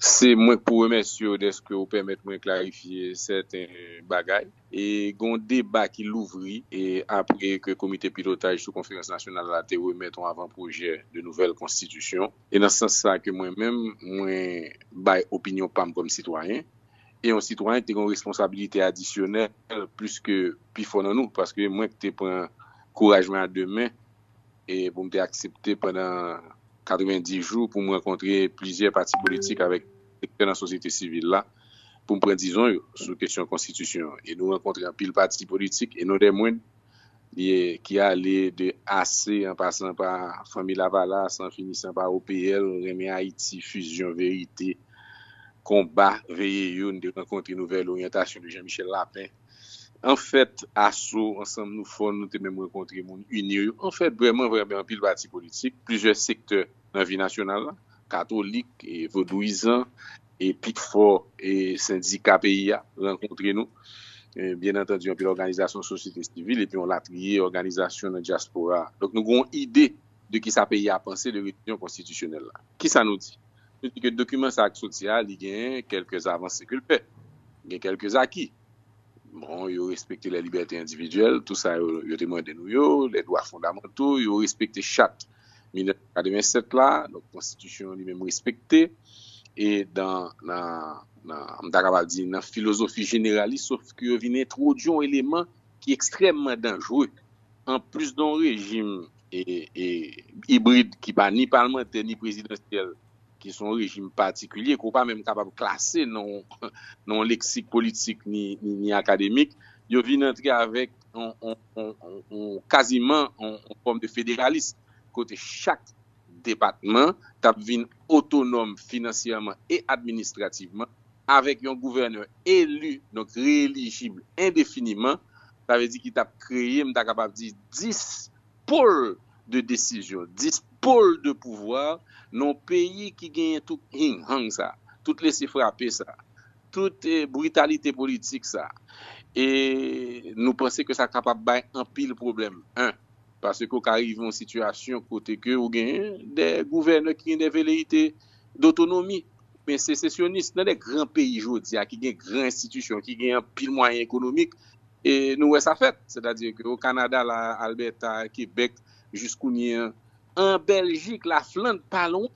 Se mwen k pou remèsye w dèske w pèmèt mwen klarifye sèten bagay. Gen yon deba ki louvri apre ke Komite Pilotaj sou Konferans Nasyonal la te remèt yon avan pwojè de nouvèl konstitisyon. E nan sans sa ke mwen menm mwen bay opinyon pa m kòm sitwayen, e yon sitwayen ki te gen yon responsabilite adisyonèl plis ke pifò nan nou, paske mwen ki te pran kouraj mwen a de men, e pou m te aksepte pandan 90 jou pou m rankontre plizyè pati politik avèk sektè nan sosyete sivil la pou m pran dizon yo sou kesyon konstitisyon an e nou rankontre anpil pati politik e non dè mwenn ye ki ale de ase an pasan pa Fanmi Lavalas an finisan pa OPL, Renmen Ayiti, Fizyon, Verite, Konba, Veye Yo n te rankontre Nouvèl Oryantasyon de Jean Michel Lapin. An fèt aso ansanm nou fò nou te menm rankontre moun inir yo an fèt vrèman vrèman anpil pati politik plizyè sektè nan vi nasyonal la katolik e vodouyizan e pi fò e sendika peyi a rankontre nou byen antandi anpil òganizasyon sosyete sivil epi yon latriye òganizasyon nan dyaspora a donk nou gen yon ide de kisa peyi a panse de revizyon konstitisyonèl la. Kisa nou di? Nou di ke dokiman sa a ki soti a, li gen kèlke avanse ke l fè. Gen kèlke aki. Bon, yo respekte lè libète endividyèl, tou sa yo, yo te mande nou yo, lè dwa fondamanto, yo respekte chat 1987 la, donk konstitisyon li menm respekte. E dan, nan, nan, m ta kapab di nan filozofi jeneralis, sof ke yo vin entwodui yon eleman. ki ekstrèmman danjre anplis don rejim ibrid ki pa ni palmantè ni prezidansyèl ki son rejim patikilye ke w pa menm kapab klase nan yon leksik politik ni akademik, yo vin antre avèk yon kaziman yon fòm de federalism kote chak Depatman t ap vin otonòm finansyèman e administrativman, avèk yon gouvènè eli, donk reyelijib endefiniman, sa vle di ki t ap kreye, m ta kapab di, 10 pôle de décision, 10 pôle de pouvoir nan yon peyi ki genyen tout hing-hang sa, tout lese-frape sa, tout britalite politik sa. E nou panse ke sa kapab bay anpil pwoblèm. 1. Paske ou ka rive yon sitiyasyon kote ke ou gen de gouvènè ki gen de veleyite dotonomi, oubyen sesesyonis. Nan de gran peyi jodi a ki gen gran enstitisyon, ki gen anpil mwayen ekonomik, e nou wè sa fèt. Sètadi ke o Kanada la, Albèta, Kebèk, jiskounye an, an Bèljik, Lafland, pa lwen.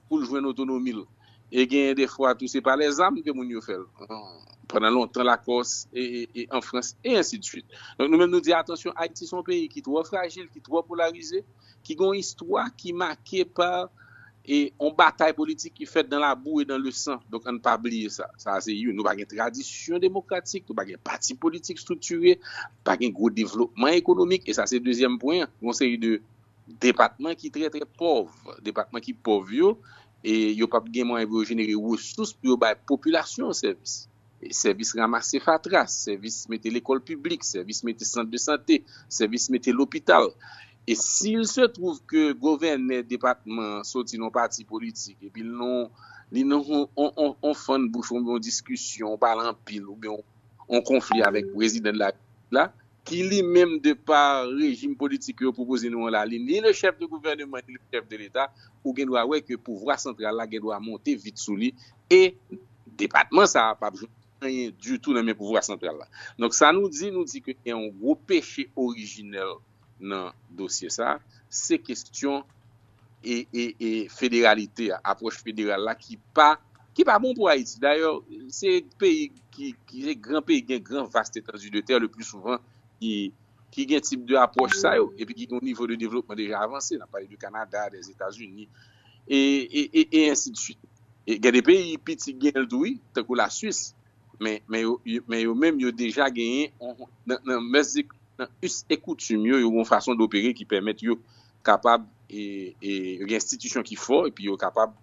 pou l jwenn otonomi l. E genyen de fwa tou se pa lè zam ke moun yo fè l. Pandan lontan Lakòs e an Frans e ensi de swit. Donk nou menm nou di atansyon Ayiti se yon peyi ki twò frajil, ki twò polarize, ki gen yon istwa ki make pa yon batay politik ki fèt dan la bou e dan le san. Donk ann pa bliye sa. Sa a se youn. Nou pa gen tradisyon demokratik, nou pa gen pati politik striktire, pa gen gwo devlopman ekonomik e sa se dezyèm pwen an. Gon seri de Depatman ki trè trè pòv, depatman ki pòv yo, yo pap gen mwayen pou yo jenere resous pou yo bay popilasyon yo sèvis. Sèvis ramase fatra, sèvis mete lekòl piblik, sèvis mete sant de sante, sèvis mete lopital. E si il se twouv ke govènè depatman an soti nan yon pati politik epi li nan yon fann bouch oubyen yon diskisyon, pale anpil oubyen yon konfli avèk prezidan de la repiblik la, ki li menm de pa rejim politik yo pwopoze nou an la li ni le chèf de gouvèneman ni le chèf de leta ou gen dwa wè ke pouvwa santral la gen dwa monte vit sou li e depatman sa a pap jwenn anyen ditou nan men pouvwa santral la donk sa nou di nou di ke gen yon gwo peche orijinèl nan dosye sa a se kestyon. e federalite a, apwòch federal la ki pa ki pa bon pou Ayiti. Dayè, se peyi ki se gran peyi gen gran vast etandi de tè le pli souvan ki ki gen tip de apwòch sa yo epi ki gen yon nivo de devlopman deja avanse. N ap pale de Kanada, dè Etazini e e e ensi de swit. E gen de peyi piti gen l tou wi, tankou la Swis men men yo men yo menm yo deja genyen yon nan mès nan us e koutim yo, yo gen yon fason dopere ki pèmèt yo kapab gen enstitisyon ki fò epi yo kapab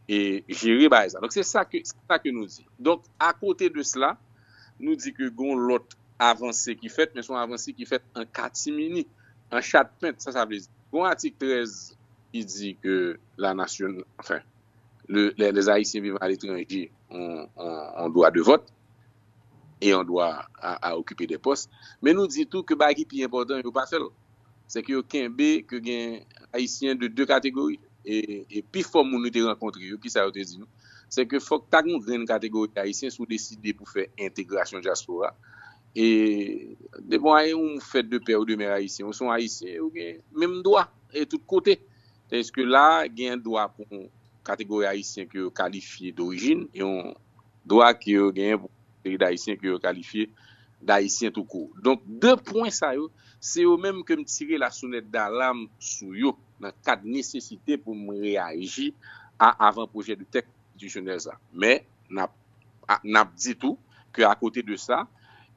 jere bagay sa. Donk se sa ke nou di. Donk akote de sela, nou di ke gon lòt avanse ki fèt, men son avanse ki fèt an katimini, an chatpent. Sa sa vle di? Gon atik 13 ki di ke la nasyon, anfen, les Haïtiens vivant à l'étranger ont droit de vote et ont droit à occuper des postes. Men nou di tou ke bagay ki pi enpòtan yo pa fè l. se ke yo kenbe ke gen Ayisyen de 2 kategori. E pi fò moun nou te rankontre yo, kisa yo te di nou? Se ke fòk ta gen yon grenn kategori Ayisyen si w deside pou fè entegrasyon dyaspora. E depi w ayè ou fèt de pè ou de mè Ayisyen, ou se yon Ayisyen e ou gen menm dwa e tout kote. Tandiske la a, gen yon dwa pou yon kategori Ayisyen ke yo kalifye dorijin e yon dwa ke yo genyen pou. peyi dayisyen ke yo kalifye dayisyen tou kou. Donk 2 pwen sa yo se yo menm ke m tire la sonèt dalam sou yo nan kad nesesite pou m reyaji a avan pwojè de tèks konstitisyonèl sa. Men n ap n ap di tou ke a kote de sa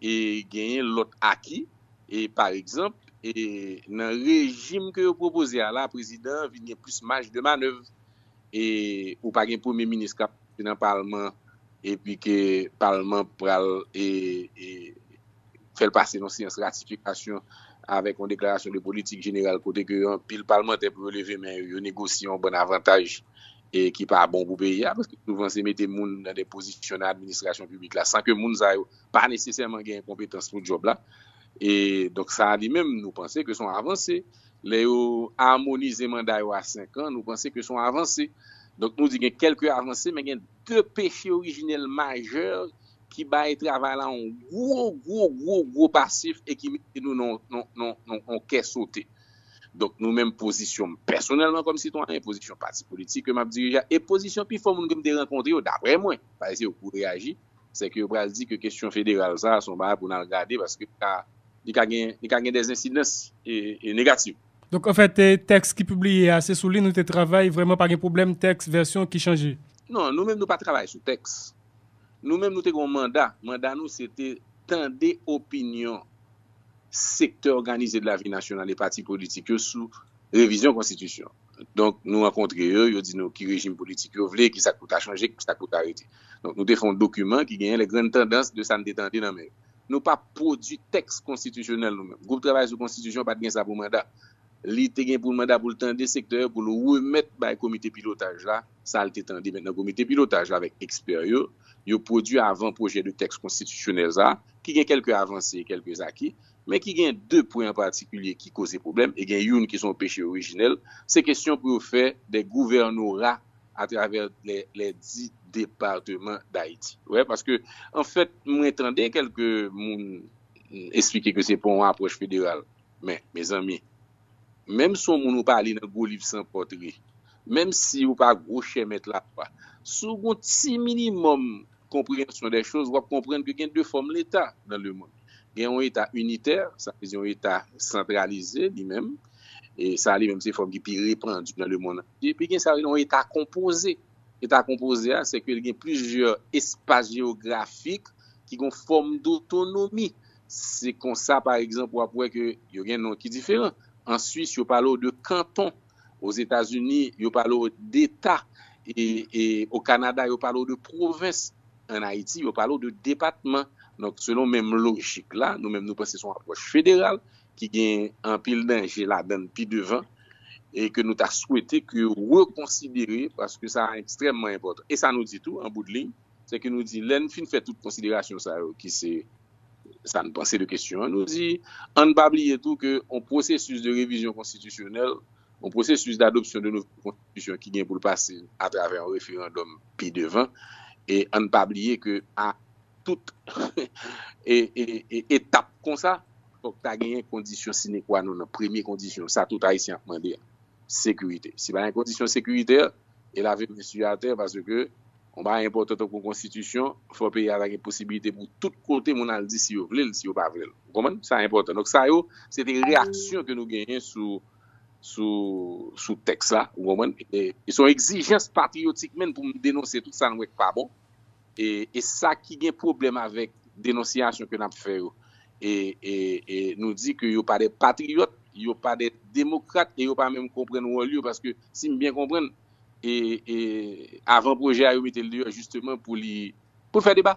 e genyen lòt aki e pa egzanp e nan rejim ke yo pwopoze a la prezidan an vin gen plis maj de manèv e ou pa gen premye minis kap pase nan palman epi ke palman pral e fèl pase yon seyans ratifikasyon avèk yon deklarasyon de politik jeneral kote ke yon pil palmantè pou yo leve men yo negosye yon bann avantaj e ki pa bon pou peyi a paske souvan se mete moun nan de pozisyon nan administrasyon piblik la san ke moun sa yo pa nesesèman gen konpetans pou djòb la e donk sa li menm nou panse ke son avanse. lè yo amonize manda yo a 5 an, nou panse ke se yon avanse. Donk nou di gen kèlke avanse, men gen 2 peche orijinèl majè ki bay travay la yon gwo, gwo, gwo, gwo pasif e ki mete nou nan yon kè sote. Donk nou menm pozisyon m pèsonèlman kòm sitwayen, pozisyon pati politik ke m ap dirije a e pozisyon pifò moun ke m te rankontre yo, daprè mwen, pa ese yo pou reyaji, se ke yo pral di ke kesyon federal sa a se yon bagay pou n al gade paske li ka gen li ka gen des ensidans negatif. Donk anfèt tèks ki pibliye a se sou li nou te travay vrèman pa gen pwoblèm tèks vèsyon ki chanje? Non, nou menm nou pa travay sou tèks. Nou menm nou te gen yon manda, manda nou se te tande opinyon sektè òganize de lavi nasyonal e pati politik yo sou revizyon konstitisyon. Donk, nou rankontre yo, yo di nou ki rejim politik yo vle, ki sa k pou ta chanje, ki sa k pou ta rete. Donk, nou te fè yon dokiman ki genyen les grandes tendances de sa n te tande nan men yo. Nou pa pwodui tèks konstitisyonèl nou menm. Gwoup travay sou konstitisyon pa t gen sa pou manda. Li te gen pou manda pou l tande sektè yo, pou l remèt bay komite pilotaj la sa l te tande. Mentnan, komite pilotaj la avèk ekspè yo, yo pwodui avan pwojè de tèks konstitisyonèl sa a, ki gen kèlke avanse, kèlke zaki, men ki gen de pwen an patikilye ki koze pwoblèm, e gen youn ki se yon peche orijinèl, se kesyon pou yo fè de gouvènora atravè lè di departeman Dayiti. Wè, paske, an fèt, mwen tande kèlke moun esplike ke se pa yon apwòch federal. Men, mezanmi, menm si yon moun ou pa li nan gwo liv san pòtre, menm si ou pa gwo chèmèt lalwa, si ou gen yon ti minimòm konpreyansyon dè choz, w ap konprann ke gen de fòm leta nan lemonn. Gen yon eta initè, sa vle di yon eta santralize li menm, e sa li menm se fòm ki pi repandi nan lemonn antye. Epi gen sa yo rele yon eta konpoze. Eta konpoze a, se ke li gen plizyè espas jeyografik ki gen yon fòm dotonomi. Se konsa, pa egzanp, w ap wè ke yo gen non ki diferan. An Swis, yo pale w de kanton. Ozetazini, yo pale w deta. E o Kanada, yo pale w de pwovens. An Ayiti, yo pale w de depatman. Donk, selon menm lojik la, nou menm nou panse se yon apwòch federal ki gen anpil danje ladan l pi devan e ke nou ta swete ke yo rekonsidere paske sa ekstrèmman enpòtan. E sa nou di tou, an bout de liy, se ke nou di lè n fin fè tout konsiderasyon sa yo ki se sa n panse de kesyon an, nou di, an n pa bliye tou ke yon pwosesis de revizyon konstitisyonèl, yon pwosesis d'adopsyon de nouvo konstitisyon ki gen pou l pase atravè yon referandòm pi devan, e an n pa bliye ke a tout etap kon sa, fòk ta genyen kondisyon sine kwa non nan, premye kondisyon, sa tout Ayisyen ap mande a, sekirite. Si pa gen kondisyon sekiritè, e lave mesye atè, paske Yon bagay enpòtan tankou yon konstitisyon, fò peyi a ta gen posibilite pou tout kote moun al di si yo vle l, si yo pa vle l. Ou konprann? Sa enpòtan. Donk sa yo, se te reyaksyon ke nou genyen sou, sou, sou tèks la. Ou konprann? E se yon egzijans patriyotik menn pou m denonse tout sa n wè k pa bon. E, e sa ki gen pwoblèm avèk denonsiyasyon ke n ap fè yo, e, e, e nou di ke yo pa de patriyòt, yo pa de demokrat e yo pa menm konprann wòl yo paske si m byen konprann, avan pwojè a yo mete l deyò jisteman pou l fè deba.